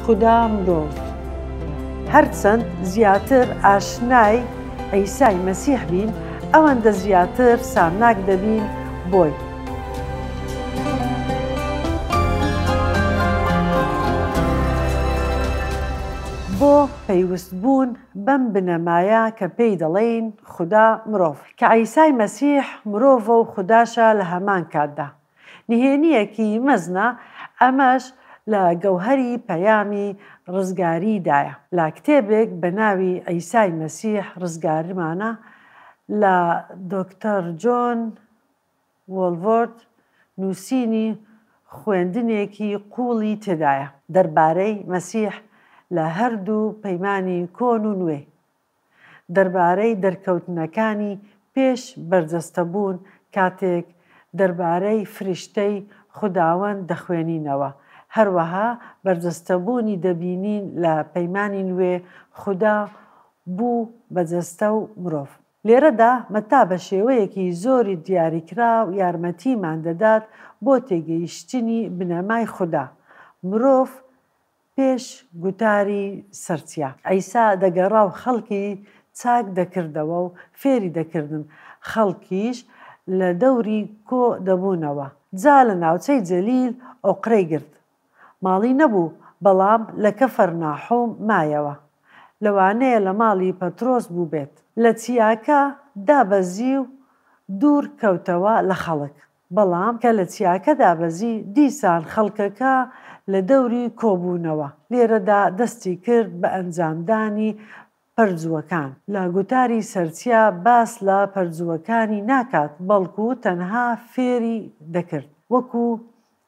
خودا مرۆڤ هەرچەند زیاتر ئاشنای عیسای مەسیح بین ئەوەندە زیاتر سامناک دەبین بۆی. بۆ پەیوەست بوون بەم بنەمایە کە پێی دەڵێین خودا مرۆڤ کە عیسای مەسیح مرۆڤە و خوداشە لە هەمان کاتدا. نهێنییەکی مەزنە، ئەمەش لە گەوهەری پەیامی ڕزگاریدایە. لە کتێبێک بە ناوی عیسای مەسیح ڕزگارمانە لە دۆکتەر جۆن وۆڵڤۆرد نووسینی خوێندنێکی قووڵی تێدایە دەربارەی مەسیح لە هەردوو پەیمانی کۆن و نوێ، دەربارەی دەرکەوتنەکانی پێش بەرجەستەبوون کاتێک دەربارەی فریشتەی خوداوەند دەخوێنینەوە، هەروەها بەرجەستەبوونی دەبینین لە پەیمانی نوێ خودا بوو بە جەستە و مرۆڤ. لێرەدا مەتا بە شێوەیەکی زۆری دیاریکراو یارمەتیمان دەدات بۆ تێگەیشتنی بنەمای خودا مرۆڤ پێش گوتاری سەرچیا. عیسا دەگەڕا و خەڵکی چاک دەکردەوە و فێری دەکردن، خەڵکیش لە دەوری کۆ دەبوونەوە. جا لە ناوچەی جەلیل ئۆقرەی گرت. ماڵی نەبوو، بەڵام لە کەفەرناحوم مایەوە. لەوانەیە لە ماڵی پەترۆس بووبێت. لە چیاکە دابەزی و دوور کەوتەوە لە خەڵک. بەڵام کە لە چیاکە دابەزی، دیسان خەڵکەکە لە دەوری کۆبوونەوە. لێرەدا دەستی کرد بە ئەنجامدانی پەرجووەکان. لە گوتاری سەرچیا باس لە پەرجووەکانی ناکات، بەڵکو تەنها فێری دەکرد. وەکو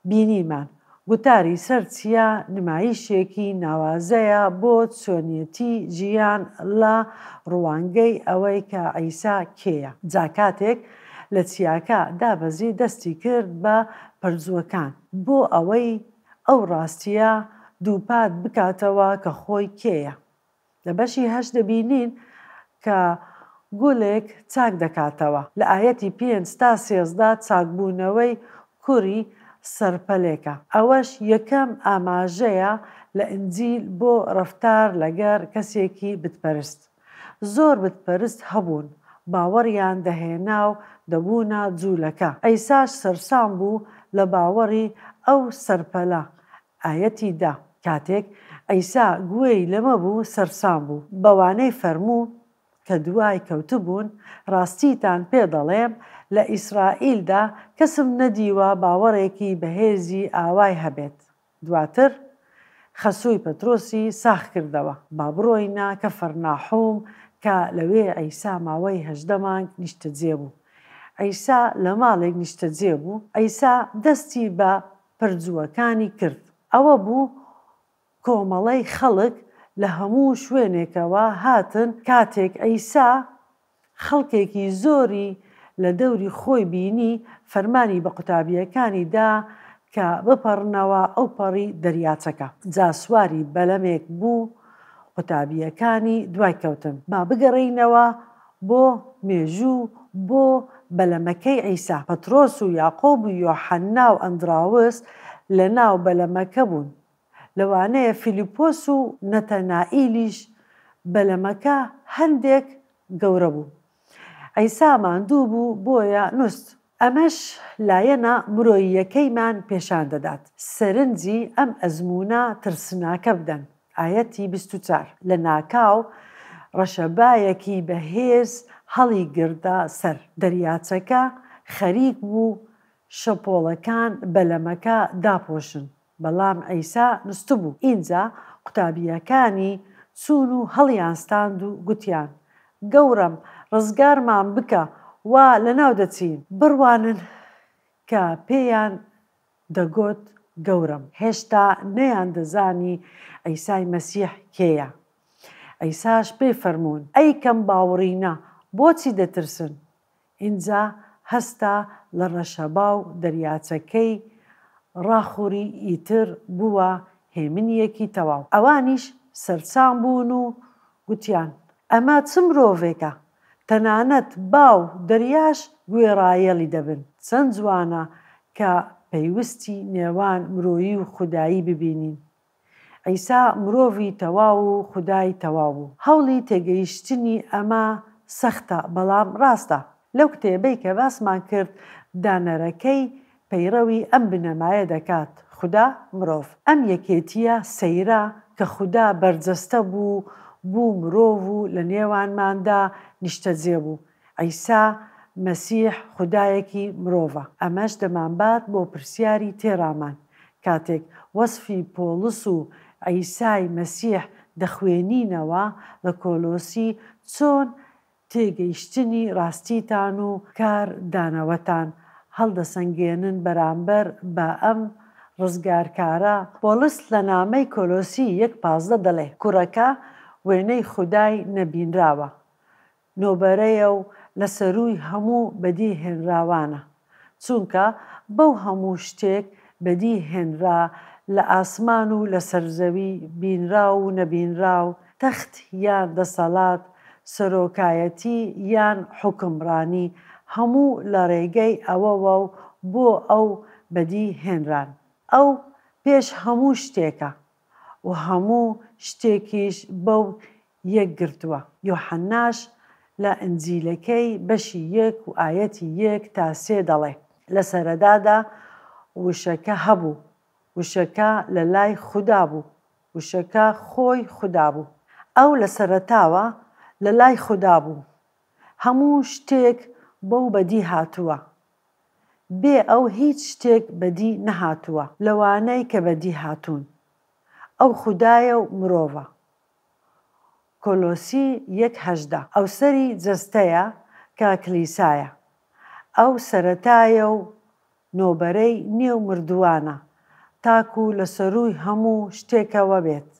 بینیمان. گوتاری سەر چیا نمایشێکی ناوازەیە بۆ چۆنیەتی ژیان لە ڕوانگەی ئەوەی کە عیسا کێیە. جا کاتێک لە چیاکە دابەزی دەستی کرد بە پەرجووەکان بۆ ئەوەی ئەو ڕاستیە دووپات بکاتەوە کە خۆی کێیە. لە بەشی هەشت دەبینین کە گولێک چاک دەکاتەوە. لە ئایەتی پێنج تا سێزدە چاکبوونەوەی کوری سەرپەلێکە. ئەوەش یەکەم ئاماژەیە لە ئینجیل بۆ ڕەفتار لەگەر کەسێکی بتپەرست. زۆر بتپەرست هەبوون باوەڕیان دەهێنا و دەبوونە جولەکە. عیساش سەرسام بوو لە باوەڕی ئەو سەرپەلە. ئایەتی دە، کاتێک عیسا گوێی لەمە بوو، سەرسام بوو، بەوانەی فەرموو کە دوای کەوتبوون، ڕاستیتان پێ دەڵێم، لە ئیسرائیلدا کەسم نەدیوە باوەڕێکی بەهێزی ئاوای هەبێت. دواتر خەسووی پەترۆسی ساخ کردەوە، با بڕۆینە کەفەرناحوم کە لەوێ عیسا ماوەی هەژدە مانگ نیشتەجێ بوو. عیسا لە ماڵێک نیشتەجێ بوو، عیسا دەستی بە پەرجووەکانی کرد ئەوە بوو کۆمەڵەی خەڵک لە هەموو شوێنێکەوە هاتن، کاتێک عیسا خەڵکێکی زۆری لە دەوری خۆی بینی، فەرمانی بە قوتابییەکانی دا کە بپەڕنەوە ئەوپەڕی دەریاچەکە. جا سواری بەلەمێک بوو، قوتابییەکانی دوای کەوتن. با بگەڕێینەوە بۆ، مێژوو، بۆ، بەلەمەکەی عیسا، پەترۆس و یاقوب و یۆحەنا و ئەندراوس لە ناو بەلەمەکە بوون، لەوانەیە فیلیپۆس و نەتەنائیلیش، بەلەمەکە هەندێک گەورە بوو. عیسا ماندوو بوو، بۆیە نوست. ئەمەش لایەنە مرۆییەکەیمان پێشان دەدات، سەرنجی ئەم ئەزموونە ترسناکە بدەن، ئایەتی بیست و چوار، لەناکاو ڕەشەبایەکی بەهێز هەڵیگرتە سەر دەریاچەکە، خەریک بوو شەپۆڵەکان بەلەمەکە داپۆشن، بەڵام عیسا نوستبوو. ئینجا قوتابییەکانی چوون و هەڵیانستاند و گوتیان، گەوڕم، ڕزگارمان بکە، وا لەناو دەچین! بڕوانن کە پێیان دەگوت، گەوڕم. هێشتا نەیاندەزانی عیسای مەسیح کێیە. عیساش پێی فەرموون، ئەی کەم باوڕینە، بۆچی دەترسن؟ ئینجا هەستا لە ڕەشەبا و دەریاچەکەی ڕاخوڕی ئیتر بووە هێمنیەکی تەواو ئەوانیش سەرسام بوون و گوتیان ئەمە چ مرۆڤێکە تەنانەت با و دەریاش گوێڕایەڵی دەبن چەند جوانە کە پەیوستی نێوان مرۆیی و خودایی ببینین عیسا مرۆڤی تەواو و خودای تەواو بوو. هەوڵی تێگەیشتنی ئەمە سەختە، بەڵام ڕاستە. لەو کتێبەی کە باسمان کرد، دانەرەکەی پەیڕەوی ئەم بنەمایە دەکات، خودا، مرۆڤ. ئەم یەکێتییە سەیرە کە خودا بەرجەستە بوو، بوو مرۆڤ و لەنێوانماندا نیشتەجێ بوو. عیسا مەسیح خودایەکی مرۆڤە. ئەمەش دەمانبات بۆ پرسیاری تێڕامان، کاتێک وەسفی پۆڵس و عیسای مەسیح دەخوێنینەوە لە کۆلۆسی، چۆن تێگەیشتنی ڕاستیتان و کار دانەوەتان هەڵدەسەنگێنن بەرامبەر بە ئەم ڕزگارکارە؟ پۆڵس لە نامەی کۆلۆسی یەک پازدە دەڵێ، کوڕەکە وێنەی خودای نەبینراوە، نۆبەرەیە و لە سەرووی هەموو بەدی هێنراوانە، چونکە بەو هەموو شتێک بەدی هێنرا لە ئاسمان و لە سەر زەوی، بینراو و نەبینراو، تەخت یان دەسەڵات، سەرۆکایەتی یان حوکمڕانی، هەموو لە ڕێگەی ئەوەوە و بۆ ئەو بەدی هێنران. ئەو پێش هەموو شتێکە و هەموو شتێکیش بەو یەکگرتووە. یۆحەنناش لە ئنجیلەکەی بەشی یەک و ئایەتی یەک تا سێ دەڵێ، لە سەرەدادا وشەکە هەبوو، وشەکە لە لای خودا بوو، وشەکە خۆی خودا بوو. ئەو لە سەرەتاوە لە لای خودا بوو. هەموو شتێک بەو بەدی هاتووە. بێ ئەو هیچ شتێک بەدی نەهاتووە لەوانەی کە بەدی هاتوون. ئەو خودایە و مرۆڤە. کۆلۆسی یەک هەژدە ئەو سەری جەستەیە کە کلیسایە، ئەو سەرەتایە و نۆبەرەی نێو مردووانە، تاکو لە سەرووی هەموو شتێکەوە بێت،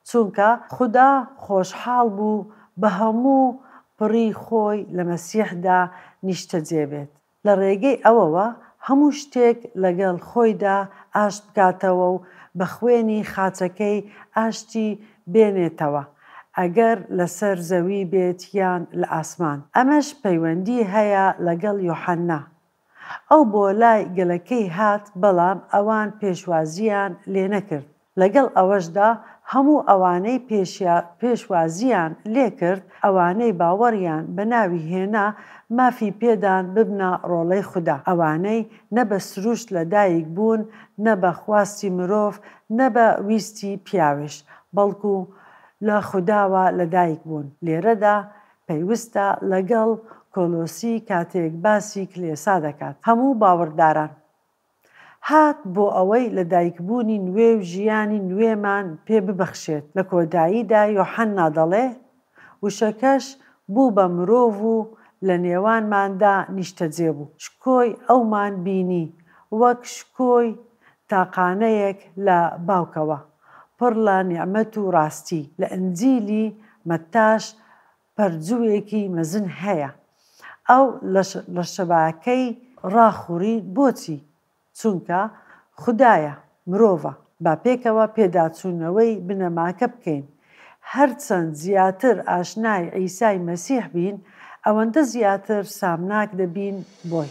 چونکە خودا خۆشحاڵ بوو بە هەموو پڕی خۆی لە مەسیحدا نیشتەجێ بێت. لە ڕێگەی ئەوەوە هەموو شتێک لەگەڵ خۆیدا ئاشت بکاتەوە و بە خوێنی خاچەکەی ئاشتی بێنێتەوە، ئەگەر لەسەر زەوی بێت یان لە ئاسمان. ئەمەش پەیوەندی هەیە لەگەڵ یوحەنا. ئەو بۆ لای گەلەکەی هات، بەڵام ئەوان پێشوازییان لێنەکرد. لەگەڵ ئەوەشدا هەموو ئەوانەی پێشیا پێشوازییان لێکرد، ئەوانەی باوەڕیان بە ناوی هێنا، مافی پێدان ببنە ڕۆڵەی خودا، ئەوانەی نە بە سروشت لە دایک بوون، نە بە خواستی مرۆڤ، نە بە ویستی پیاویش، بەڵکو لە خوداوە لە دایک بوون. لێرەدا پەیوستە لەگەڵ کۆلۆسی کاتێک باسی کلێسا دەکات، هەموو باوەڕداران. هات بۆ ئەوەی لەدایکبوونی نوێ و ژیانی نوێمان پێ ببەخشێت، لە کۆداییدا یۆحەننا دەڵێ، وشەکەش بوو بە مرۆڤ و لە نێوانماندا نیشتەجێ بوو، شکۆی ئەومان بینی، وەک شکۆی تاقانەیەک لە باوکەوە، پڕ لە نیعمەت و ڕاستی، لە ئنجیلی مەتتاش پەرجووێکی مەزن هەیە ئەو لەشەباکەی ڕاخوڕی بۆچی چونکە خودایە مرۆڤە با پێکەوە پێداچوونەوەی بنەماکە بکەین هەرچەند زیاتر ئاشنای عیسای مەسیح بین ئەوەندە زیاتر سامناک دەبین بۆی.